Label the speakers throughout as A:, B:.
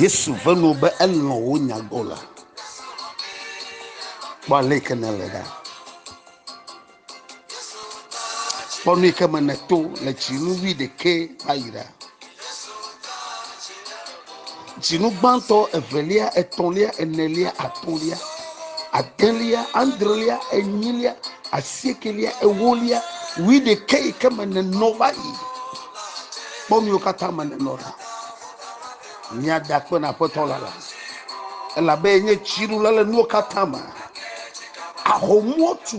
A: yesu ve nɔ be elɔ̃ wo nyagbɔ la kpɔ ale yike ne le ɖa kpɔ nu yike me ne to le tsi nu wi ɖekɛ va yi ɖa Dzinu gbãtɔ, evelia, etɔ̃lia, enelia, atɔ̃lia, adelia, adrelia, enyilia, asiekelia, ewolia, wui ɖekɛ yi ke me nenɔ va yi. Kpɔ nuwo katã me nenɔ ɖa. Mia da kpe na aƒetɔ la la. Elabe enye dziɖula le nuwo katã me. Ahomuo tu.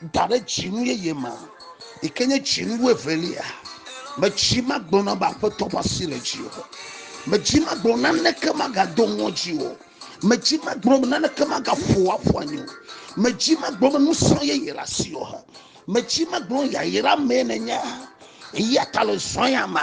A: da ɖe dzinu yeye ma yi ke nye dzinu wuevelia medzi magblɔna be aƒetɔ ƒe asi le dzi o medzi magblɔ naneke magado ŋɔdzi o medzi magblɔ be naneke magaƒo aƒu anyi o medzi magblɔ be ŋusẽ yeye le asi o medzi magblɔ yayra mee nenye eya ta le zɔya ma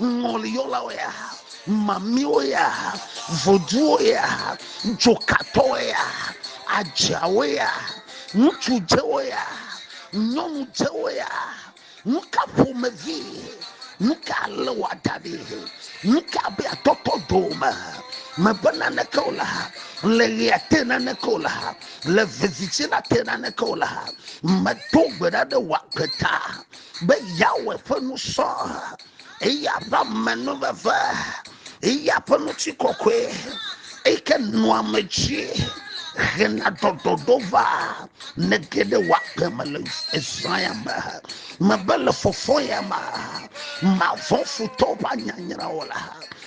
A: ŋɔliyɔlawo ya, mamiwo ya, voduwo ya, dzokatɔwo ya, adzeawo ya, ŋutsu dzewo ya, nyɔnu dzewo ya. Nu ka ƒomevi? Nu ka ale wòada ɖi? Nu ka be atɔtɔ dome? Mebe naneke o la, le ɣea te naneke o la, le vevitsi la te naneke o la, medo gbe ɖa ɖe wò agbe ta. be yeawɔe ƒe nu sɔ eya ƒe amenuveve, eya ƒe ŋutikɔkɔe, eyi ke nɔa ame dzi hena dɔdɔdɔ va ne ge ɖe woagbe me le ezã ya me. Mebe le fɔfɔ ya me, mavɔ̃ futɔwo ƒe anyanyra o la.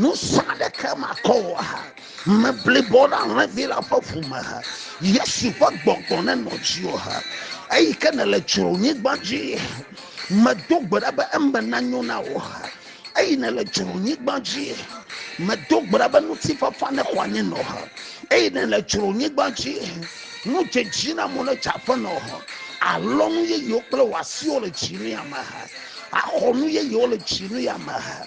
A: Ŋusẽ aɖeke makɔ o aha. Me blibo ɖe alẽvi la ƒe ʋu me ha. Yesu ƒe gbɔgbɔ nenɔ dziwò ha. Eyi ke nèle dzronyigba dzi. Medo gbe ɖa be eme nanyo na wò ha. Eyi nèle dzronyigba dzi. Medo gbe ɖa be ŋutifafa nexɔ anyi nɔ ha. Eyi nèle dzronyigba dzi. Nu dzedzi na mo ne dze aƒe nɔ ha. Alɔnu yeyewo kple wò asiwo le dzi ne ameha. Axɔ nu yeyewo le dzi ne ameha.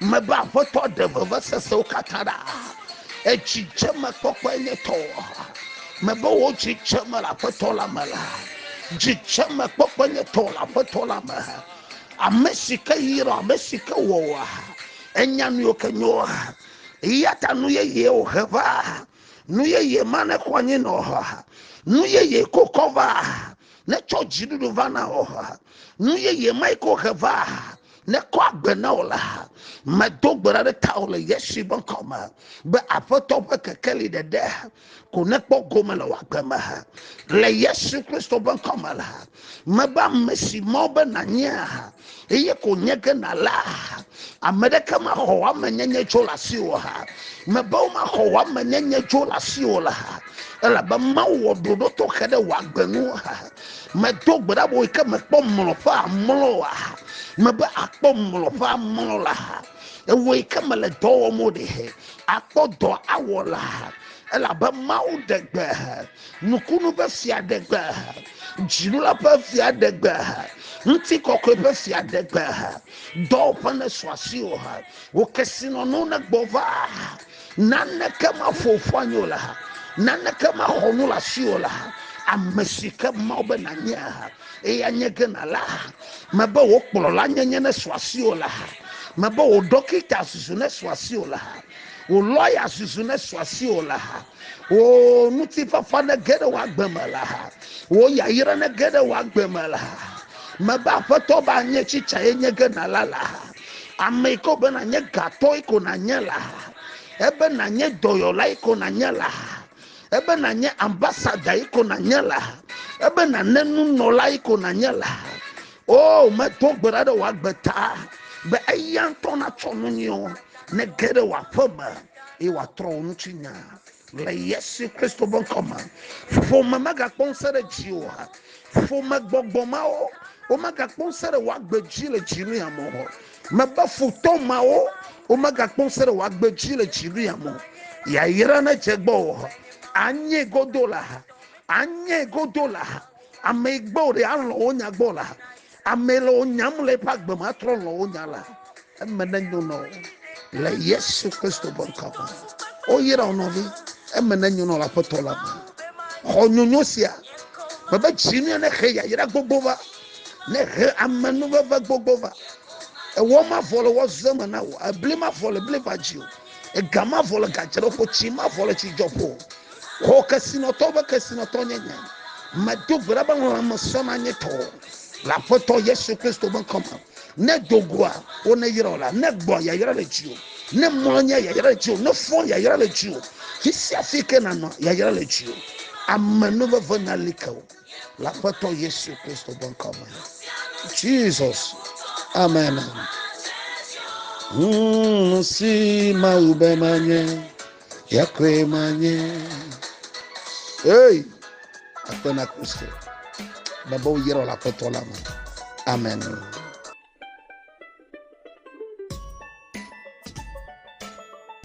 A: Mebe Aƒetɔ ɖe vevesesewo katã ɖa. Edzidzemekpɔkpɔe nye tɔ. Mebe wò dzidzeme le Aƒetɔ la me la. Dzidzemekpɔkpɔe nye tɔ le Aƒetɔ la me. Ame si ke yra, ame si ke wɔa, enya nu ke nyoa. Eya ta nu yeye wòhe va. Nu yeye ma nexɔ anyi nɔ. Nu yeye kokɔ va. Netsɔ dziɖuɖu va na wò. Nu yeye mae ko he va. nekɔ agbe na wò la, medo gbe ɖa ɖe tawò le Yesu ƒe ŋkɔ me be Aƒetɔ ƒe kekeli ɖeɖe ko nekpɔ gome le wò agbe me. Le Yesu Kristo ƒe ŋkɔ me la, mebe ame si mɔ be nànye eye ko nye ge nàla, ame ɖeke maxɔ wò ame nyenye tso le asi wò ha. Mebe womaxɔ wò ame nyenye tso le asi wò la, elabe Mawu wɔ ɖoɖo tɔxɛ ɖe wò agbe ŋu. Medo gbe ɖa be yi ke mekpɔ mlɔƒea mlɔa, mebe akpɔ mlɔƒea mlɔ la, ewɔ yi ke mele dɔ wɔm o ɖe, akpɔ dɔ awɔ la, elabe Mawu ɖe gbe, nukunu ƒe fia ɖe gbe, dzilula ƒe fia ɖe gbe, ŋutikɔkɔe ƒe fia ɖe gbe, dɔwɔƒe nesɔ asi o, wò kesinɔnuwo negbɔ va. Naneke maƒo ƒu anyi o le ha. Naneke maxɔ nu le asi o le ha. Ame si ke Mawu be nanye ha, eye anye ke nala ha. Mebe wò kplɔla nyenye nesu asi o le ha. Mebe wò ɖɔkita zuzu nesu asi o le ha. Wò lɔya zuzu nesu asi o le ha. Wò ŋutifafa nege ɖe wò agbe me le ha. Wò yayra nege ɖe wò agbe me le ha. Mebe aƒetɔ be anye tsitsa ye nye ge nala le ha. ame yi ke be nànye gatɔ yi ko nànye la ebe nànye dɔyɔla yi ko nànye la ebe nànye ambasada yi ko nànye la ebe nàne nunɔla yi ko nànye la o oh, medo gbe ɖa ɖe wò agbe ta be eya ŋutɔ natsɔ nu nyuiwo ne ge ɖe wò aƒe me eye wòatrɔ wò ŋuti nya Le Yesu Kristo ƒe ŋkɔ me, ƒome megakpɔ ŋusẽ ɖe dziwò ha. Ƒome gbɔgbɔ mawo, womegakpɔ ŋusẽ ɖe wò agbe dzi le dziwò ya me o. Mebe futɔ mawo, womegakpɔ ŋusẽ ɖe wò agbe dzi le dziwò ya me o. Yayra nedze gbɔ o. Anye godo la, anye godo la, ame yi gbɔ ɖe alɔ wo nya gbɔ la. Ame le wo nyam le eƒe agbe ma trɔ lɔ wo nya la. Eme ne nyo nɔ le Yesu Kristo ƒe ŋkɔ me. Wo yra wo nɔvi. Eme ne nyo nɔ la ƒe tɔ la me. Xɔ nyonyo sia. Me be dzi ne ne xe yayra gbogbo va. Ne xe ame nu veve gbogbo va. Ewɔ ma vɔ le wɔ zɔ me na wo. Ebli ma vɔ le bli va dzi o. Ega ma vɔ le gadze ɖe ƒo. Tsi ma vɔ le tsi dzɔ ƒo. Xɔ kesinɔtɔ be kesinɔtɔ nye nya. Me do gbe ɖa be lãme sɔ na nye tɔ. Le Aƒetɔ Yesu Kristo ƒe ŋkɔ me, ne do goa, wo ne yra o la, ne gbɔa yayra le dziwò, ne mɔa nye yayra le dziwò, ne fɔa yayra le dziwò, fi sia fi ke nanɔ yayra le dziwò. Ame nu veve na li ke o. Le Aƒetɔ Yesu Kristo ƒe ŋkɔ me. Jesus. Amen. Hmm, si mawu be manye. Ya koe manye. Hey! Akpe na Kristo. Baba wo yɛrɛ la aƒetɔ la me. Amen.